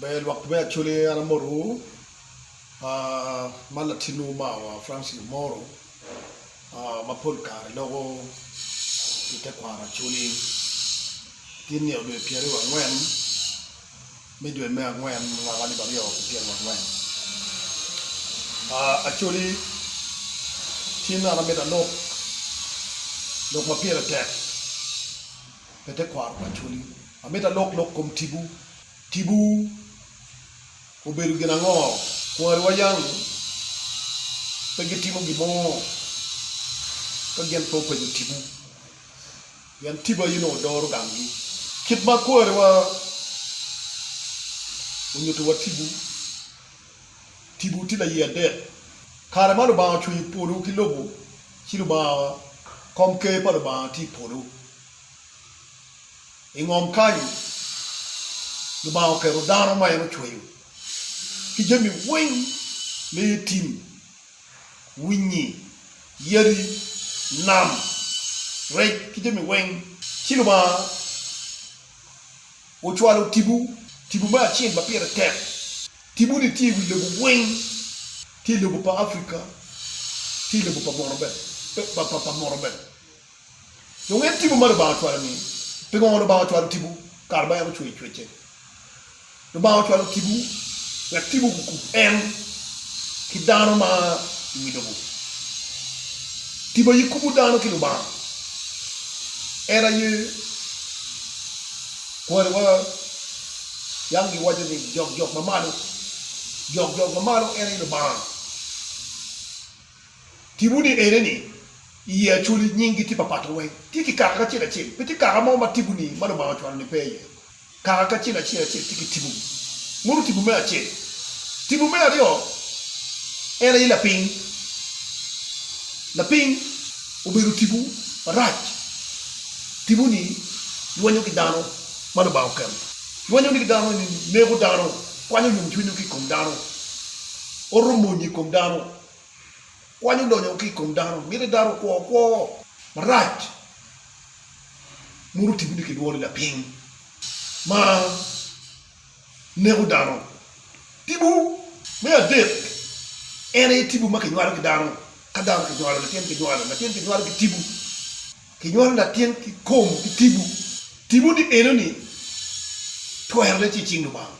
Ber lwak tube actually an amoto wu man latin wu ma wa Francis Omoro ma pol kare loko i te kwaro actually tye nino dwe pyere aryo wa ngwen me dwe me angwen mwaka alip aryo ki pyere wa ngwen actually cen an amito alok lok ma pire tek pe te kwaro actually amito alok lok kom tibu. Tipo obedo gin ango? Kwariwa yam pe gitimo gin mo ka gin pe openyo tipo, pien tipo aye nongo doro gamgi. Kit ma kwariwa onyutiwa tipo, tipo tye laye adek. Kare ma Lubanga ocweyo polo ki lobo, ci Lubanga, Komker pa Lubanga tye i polo. I ngom kany, Lubanga oketo dano ma en ocweyo ki jami weng ma iye tim, winyi, yadi, nam, rec ki jami weng. Ci Lubanga ocwalo tipo, tipo me acel ma pire tek. Tipo-ni tye i wi lobo weng, tye i lobo pa Africa, tye i lobo pa mono bene. Dong en timo ma Lubanga ocwalo ni. Pi ngo Lubanga ocwalo tipo kato ma en ocweyo cwecce? Lubanga ocwalo tipo wek tipo gukub en ki dano ma i wi lobo. Tipo aye kubo dano ki Lubanga. En aye kwariwa. Yam giwaco ni, Jok jok ma malo. Jok jok ma malo en aye Lubanga. Tipo ni ene ni, i ye Acholi nying gi tye papato weng tye ki kaka kacel acel, pe tye kaka mo ma tipo ni ma Lubanga ocwalo ni pe iye. Kaka kacel acel acel tye ki tipo gi. Mutu tipo me acel. Tipo me aryo en aye lapiny. Lapiny obedo tipo marac. Tipo ni lwenyo ki dano ma Lubanga oketo. Lwenyo ni ki dano eni neko dano, kwanyo yom cwinyo ki i kom dano, oto monye i kom dano. Kwany odonyo ki i kom dano, miti dano okwo kwo marac moruti guti ki lworo i lapiny ma neko dano. Tibu me adek en aye tibu ma kinywalo ki dano, ka dano kinywalo latin kinywalo latin kinywalo ki tibu, kinywalo latin ki kom ki tibu. Tibu ni eno ni twero ne tye i cing Lubanga.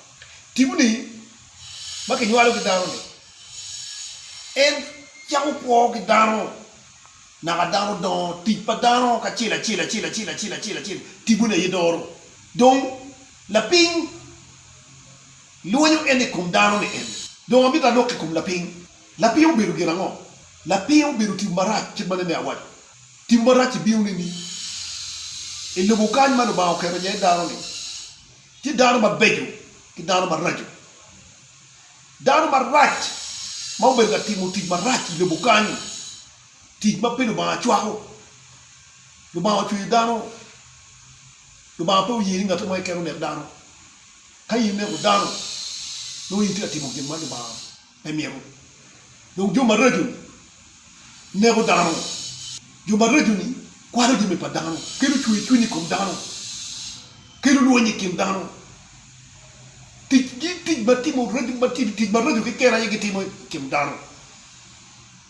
Tibu ni ma kinywalo ki dano ni En cako kwo ki dano, naka dano dongo, tic pa dano kacel acel acel acel acel acel acel tibone aye doro. Dong lapiny lwonyo en i kom dano ni en. Dong amito alok i kom lapiny. Lapiny obedo gin ango? Lapiny obedo tipo marac kit ma nene awaco. Tipo marac-ci bino nining? I lobo kany ma Lubanga oketo iye dano-ni, tye dano mabeco ki dano maraco. Dano marac ma obedo ka timo tic marac i lobo kany, tic ma pe Lubanga cwako. Lubanga ocweyo dano, Lubanga pe oye ni ngat mo keken onek dano. Ka in ineko dano, nongo in itye ka timo gin ma Lubanga pe mito. Dong jo maraco-ni neko dano, jo maraco-ni kwalo jami pa dano, kelo cwercwiny i kom dano, kelo lweny i kin dano. Ticgi tic ma timo tic maraco keken aye gitimo i kin dano,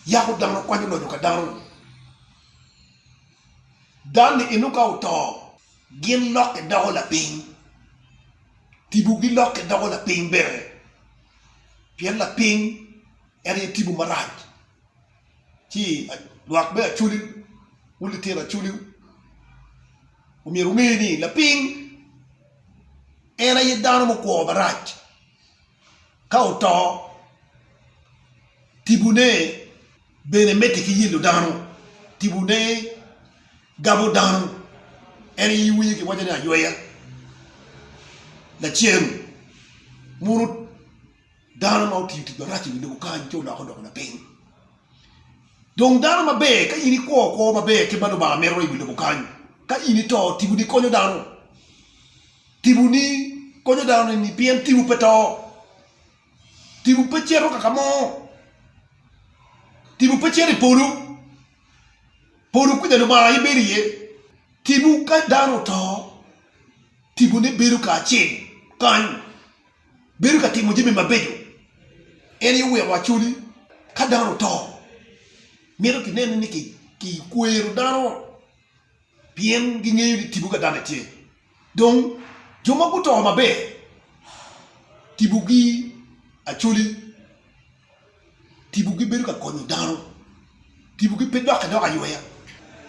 yako dano, kwanyo loyo ka dano. Dan-ni inongo ka oto, gin lokke doko lapiny, tipo gilokke doko lapiny bene, pien lapiny en aye tipo marac. Ci lwak me acoli wu litino acoliwu. Omyero wunge ni lapiny en aye dano mukwo marac. Ka oto, tibune bene medde ki yelo dano, tibune gabo dano. En aye iwinyo kiwaco ni ayweya lacen muno. Dano ma otiyo tic marac i wi lobo kany ci oloko doko lapiny. Dong dano maber ka in ikwo kwo maber kit ma Lubanga mito i wi lobo kany, ka in ito, tiboni konyo dano. Tiboni konyo dano nining? Pien tibu pe to, tibu pe cito kaka mo, tibu pe cito i polo, polo kwija Lubanga aye bedo iye. Tibu ka dano oto, tibone bedo kacel kany. bedo ka timo jami mabeco, en aye oweko acoli ka dano oto mito ki nene ni ki kwero dano pien gi ngeyo ni tipo ka dano tye dong jo ma guto maber tipo gi acoli. Tipo gibedo ka konyo dano. Tipo gi pe dokke dok ayweya.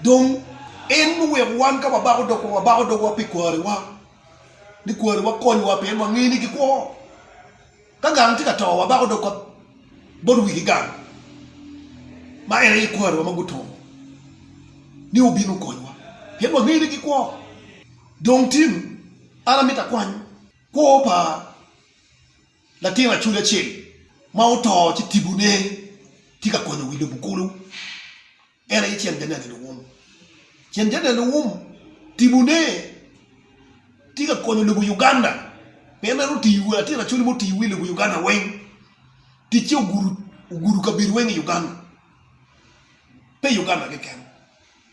Dong en oweko wan ka wabako dogwa, wabako dogwa pi kwarewa, ni kwarewa konywa pien wangeyo ni gikwo. Ka gang tye ka to, wabako dogwa bot wigi gang, ma en aye kwarewa ma gutongo, ni wubin wukonywa, pien wangeyo ni gikwo. Dong tin, an amito akwany kwo pa. Latin acwali acel ma oto ci tibune tye ka konyo wi lobo kulu. En aye cen Daniel Eluwum. Cen Daniel Eluwum tibune tye ka konyo lobo Uganda pien en oti latin acwali ma oti wi lobo Uganda weng. Ticce ogudo kabedo weng i Uganda, pe i Uganda keken.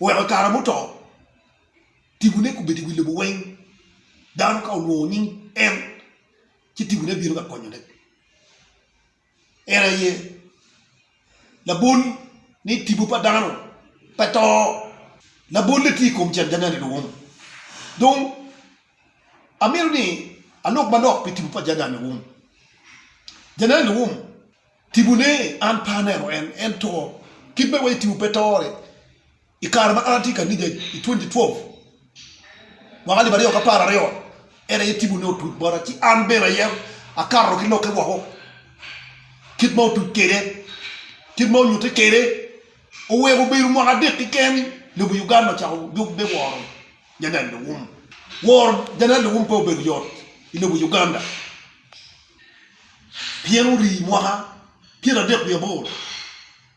Oweko i kare muto tibune kobedo i wi lobo weng. Dano ka olwongo nying en ci tipone bino ka konyone. En aye labol ni tipo pa dano pe to, labolle tye i kom janjanya ni luwum. Dong amito ni alok manok pi tipo pa janjanya ni luwum. Janjanya ni luwum tipone an pe aneno en, en to. Kit ma iwaco ni tipo pe to-ni. I kare ma an atye i kanica i twenty twelve mwaka alip aryo k'apar aryo en aye tipo ne otuc bota ci an bene aye akato ki lokke woko kit ma otuc kede kit ma onyute kede oweko obedo mwaka adek keken lobo Uganda ocako yub me woro Janel Lewum. Woro Janel Lewum pe obedo yot i lobo Uganda pien ori mwaka pyera adek wiye aboro.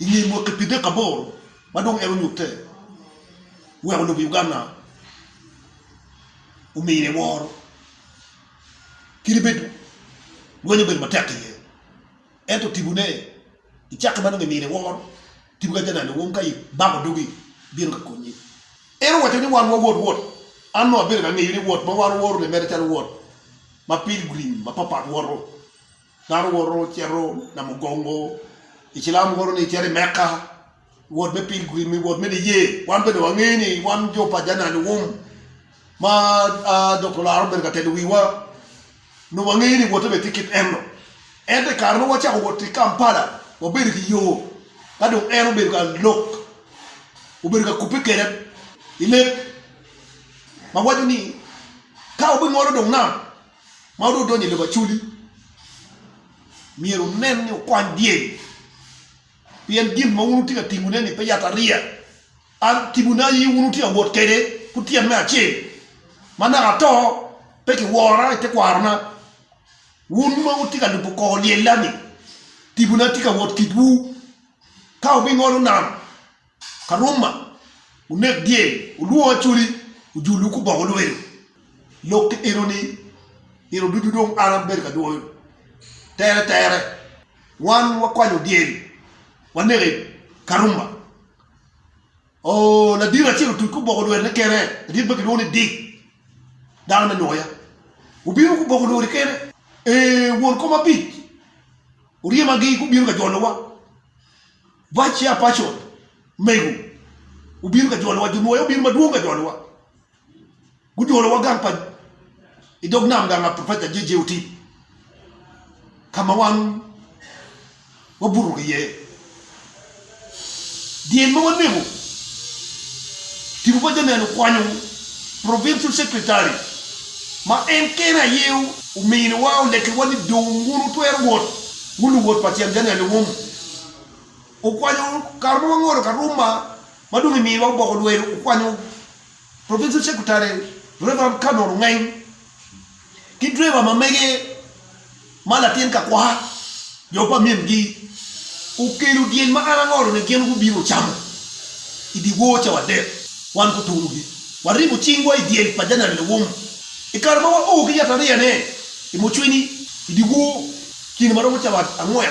i nge mwaki pi dek aboro ma dong en onyutte, oweko lobo Uganda omine woro kadi bed lweny obedo matek iye. Ento tibone i cakke ma dong imine woro tipo ka janan owong ka ibako dogi bino ka konyi. En owaco ni wan wawot wot, an dong abedo ka ngeyo ni wot ma wan oworo ni mere calo wot ma pilgrim mapat pat woto. Dano woto cito Namugongo, Icilam woto ni cito i Mekka, wot me pilgrim, wot me niye. Wan bene wangeyo ni wan jo pa jami aluum ma Dokta Olaro obedo ka telo wiwa, nongo wangeyo ni wotte bene tye kit eno. Ento i kare ma wacako wot ki i Kampala, wabedo ki yo ka dong en obedo ka lok, obedo ka kubbe kwede i leb ma waco ni ka wabingolo dong nam, Ma onongo odonyo i lobo Acoli myero wunen ni wukwany dyeri, pien gin ma wun wutye ka timone-ni pe yatariya. An timone aye wun wutye ka wot kwede kutyene me acel. Ma naka ato, pe kiwora i tekwarona. Wun ma wutye ka lubo kor lyella-ni, timone atye ka wot kitwu. Ka wubingolo nam, Karuma, wunek dyel, wulwongo acholi, wujulu ki oboko lwelo. Lok ki enoni, nino ducu dong an abedo ka dwoyo tere tere. Wan wakwanyo dyel, waneko i Karuma. Oo, ladiro acel otuc ki oboko lwelone kene, ladit ma kilwongo ni Dick, dano me Nwoya. Obino ki oboko lwelone kene. Ee, won kom abic oryemagi gubino ka jolowa. Vice Chair Pacon mego obino ka jolowa, jo nwoya obino madwong ka jolowa, gujolowa gang pa i dog nam gang a Professor JJ Otip ka ma wan wabuto ki iye. Dyel ma waneko, tipo pa janeno okwanyo Provincial Secretary ma en kene aye ominiwa, olekiwa ni dong wun wutwero wot, wun luwot pa Cen Janeno Iwom. okwanyo kare ma wangolo Karuma ma dong imiyo wa oboko lwedo, okwanyo Provincial Secretary Rev. Canon Ongeny ki driver ma mege ma latin kakwaka jo pa min gi okelo dyel ma an angolo ni gin gubino ocamo i di wor cawa adek wan gutunu gi waribo cing wa i dyel pa Janan Lewum i kare ma wa o ki yatariya ne i Mucwini i di wor kine ma romo cawa angwen.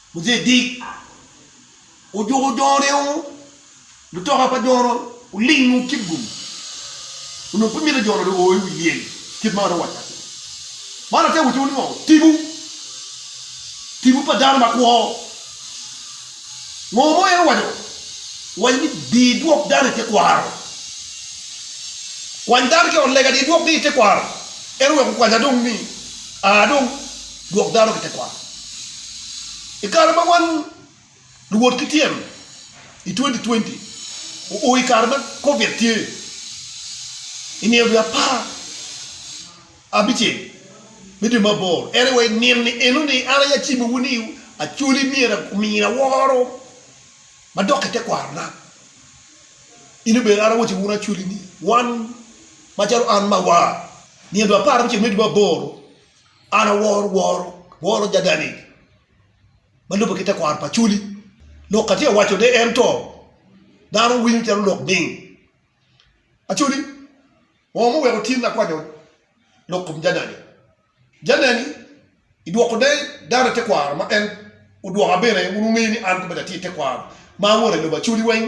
Muje dit, ojuko jone o lutoka pa jone oling o kit gum onongo pe mito jone dong o i wi lyel kit ma adong wacca ni. Man ate wutiwu ni ngo? Tibu, tibu pa dano ma kwo. Ngo mo en owaco? Owaco ni di idwok dano i te kwaro. Kwany dano ki ot lega di idwok gi i te kwaro. En oweko kwanya dong ni aa dong. Gwok dano ki tekwaro. I kare ma wan luwot ki tyen i twenty twenty oo i kare ma koviet tye i nino dwe apar abicel me dwe me aboro en aye wa i nino ni eno ni an aye acimowu ni Acholi myero omini aworo madok ki tekwaro na. In obedo an awaco wunu Acholi ni wan macalo an ma awar nino dwe apar abicel me dwe me aboro An aworo woro, woro jadani ma lubbe ki tekwaro pa Acholi. Lok atye ka wacone en to dano winyo calo lok ming. Acholi ongo ma oweko tin akwanyo lok kom jadani. Jadani i dwoko ne dano i tekwaro ma en odwoka bene wun wungeyo ni an komedo atye i tekwaro ma awoto i lobo Acholi weng.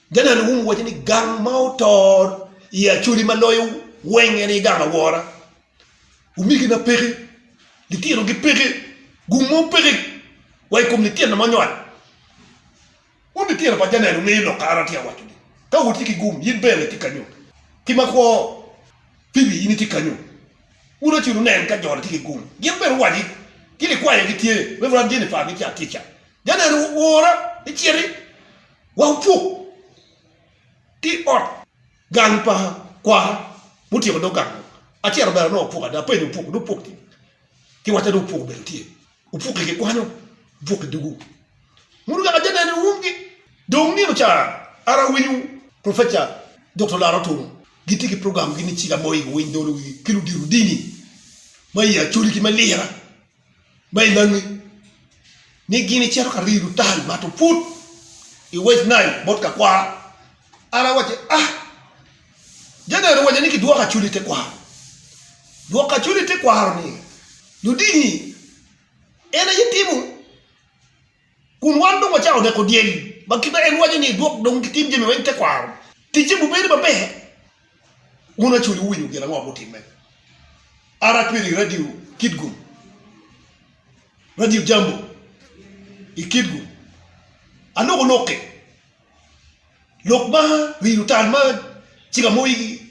Janan Hume waco ni gang ma otor i Acholi ma loyo weng en aye gang awora. Omegina peke, litinogi peke, gung mo peke wa i kom litino ma onywal. Wun litino pa Janan wungeyo lok kare atye ka waco-ni. Ka wutye ki gung, in bene itye kanyu. Ki makwo, Phoebe in itye kanyu. Wun acel wunen ka jo-ni tye ki gung. Gin bene owaci ki likwayo gitye, Reverend Jennifer gitye atica. Janan wora, iciti. Wa wupuk ki ot gang pa kwara mutyeko dog gang mo. Acel obero nongo opuk ada, apenyo opuk ni opuk ni ki wacca ni opuk obedo tye. Opuk i kikwanyo, opuk i dugu. Munu kaka atye neno i umgi. Dong nino ca an awinyo Professor Doktor Laro Otuno gitye ki program gi ni Cik Amoyi Winy Dolo Wigi ki ludito dini ma i Acholi ki me Lira. Ma inangi ni gin icito ka rido tal mato put i West Nile bot kakwara. An awacci, Ah! Janet owacca ni kidwoko acul i tekwaro. Dwoko acul i tekwaro-ni ludingi en aye timo. Kun wan dong wacako neko dyegi, ma kit ma en waco ni, Idwok dong gitim jami weng tekwaro, ticce bubed maber. Wun acoli wuwinyo gin ango ma gutimme aracwelo i Radio Kitgum, Radio Jambo, i Kitgum? Aloko lok-ki, lok ma rido tal ma cik amoyi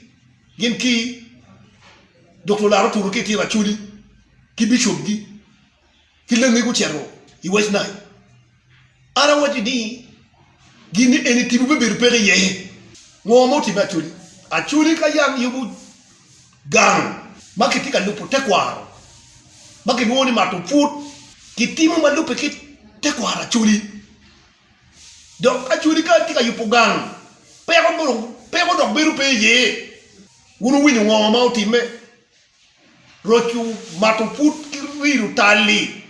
gin ki Dokta Olaro Otutu ki Itino Acoli ki bicopgi. ki langegi ocito i West Nile. An awacci ni, Gin ni eni tipo pe bedo peko iye. Ngo ma otimme Acholi? Acholi ka yam yubo gang ma kitye ka lubo tekwaro ma kilwongo ni mato pwod kitimo ma lubbe ki tekwaro Acholi. Dok Acholi ka tye ka yubo gang, peko dok bedo pe iye. Wun wuwinyo ngo ma otimme? roco mato pud ki rilo tal-li,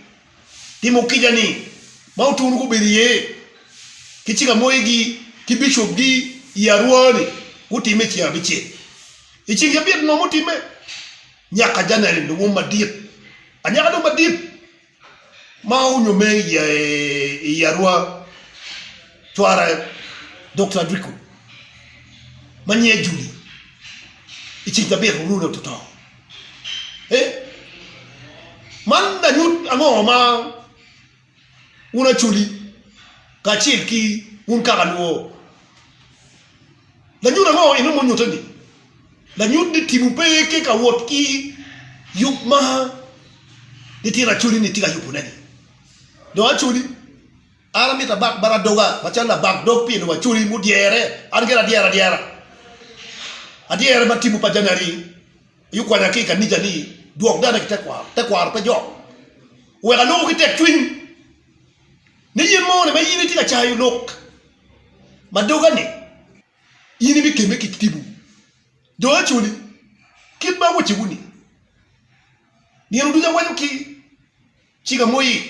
timo kica-ni ma otunu gubedo iye ki cikamoyigi ki bicopgi i Arua-ni gutimme i ceng abicel. I ceng cabit ngo mutimme? Nyaka Janel, lubum madit, anyaka dong madit. ma onyume i i Arua cware Dokta Adriko ma nyinge Judy i ceng cabit oruu dong to to eh man lanyut ango ma wun Acholi kacel ki wun kaka luo lanyut ango inongo munyute ni Lanyut ni tipo pe aye tye ka wot ki yub ma nitino Acholi-ni tye ka yubone-ni. Dong Acholi, an amito abak bal adoga macalo labak dog pien dong Acholi mudyere, an gire adyera adyera. Adyere ma tipo pa January-ni aye okwanya ki i kanica ni dwok dane ki tekwaro, tekwaro pe jok. Wek aloko ki tekcwiny ni yen moni ma in itye ka cayo lok ma doga-ni. In ibikemme ki tipo jo acoli, kit ma awacowu-ni, nino ducu awaco ki cinga moyie.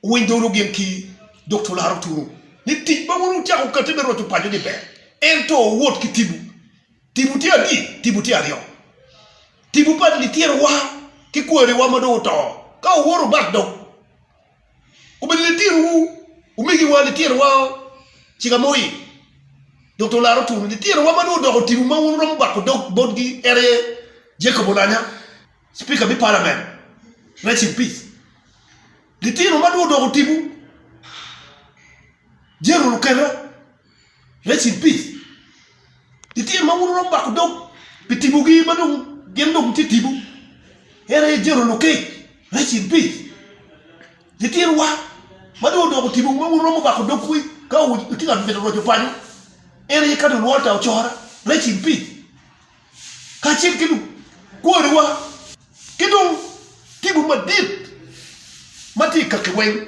Wuwiny dogwu gin ki dog twol aro tunu, ni tic ma wun wucako kati me roco paco-ni ber, ento wuwot ki tipo. Tipo tye adi? Tipo tye aryo. Tipo pa lityerewa ki kwariwa ma dong oto, ka wuwoto bak dog. obedo litinowu, omigiwa, litinowao, cika mo i dok to olaro twoni. Litinowa ma dong odoko otinu ma wun wuromo bako dog botgi en aye Jacob Olanya, Spika me Palament, rest in peace. Litinowa ma dong odoko otibu, General Okello. Rest in peace lityen ma wun wuromo bako dog pi tipo gi ma dong gin dong gitye tipo en aye General Lokech rest in peace lityen wa ma dong odoko tipo ma wun wuromo bako dog wi ka wutye ka mito roco paco en aye Cardinal Walter Ocora rest in peace kacel ki lukwari wa ki dong tipo madit ma tye i kaki weng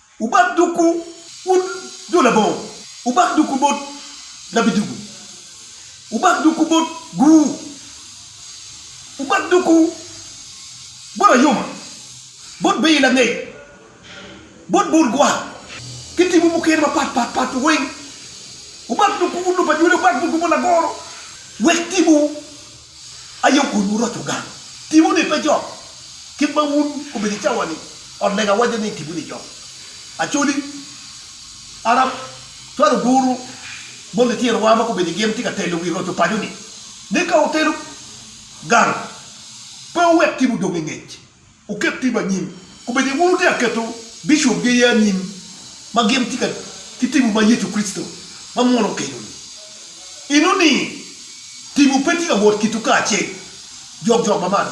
Wubak dogwu, wun jo labongo, wubak dogwu bot labidugu, wubak dogwu bot Gur, wubak dogwu bot Ayuma, bot Beyi langec, bot bur gwa, ki timwu mukene mapat pat pat weng. Wubak dogwu, wun lubanywele, wubak dogwu bot Lagoro, wek timwu. Aye okun wuroco gang tipo ni pe jok kit ma wun obedo i cawa ni. Ot lega waco ni tipo ni jok Acholi, Arab, twal oguru bot lityer wa ma gubedo i gin tye ka telo wi roco paco ni. Ni ka wutelo gang pe wuwek tipo dong i ngec. Wuket tipo anyim. Kubedi wun wutye ka keto bicopgi aye anyim ma gin tika ki tipo ma Yecu Kricito ma munu okeloni? Inu ni tipo pe tye ka wot kitwu kacel jokjok ma malo?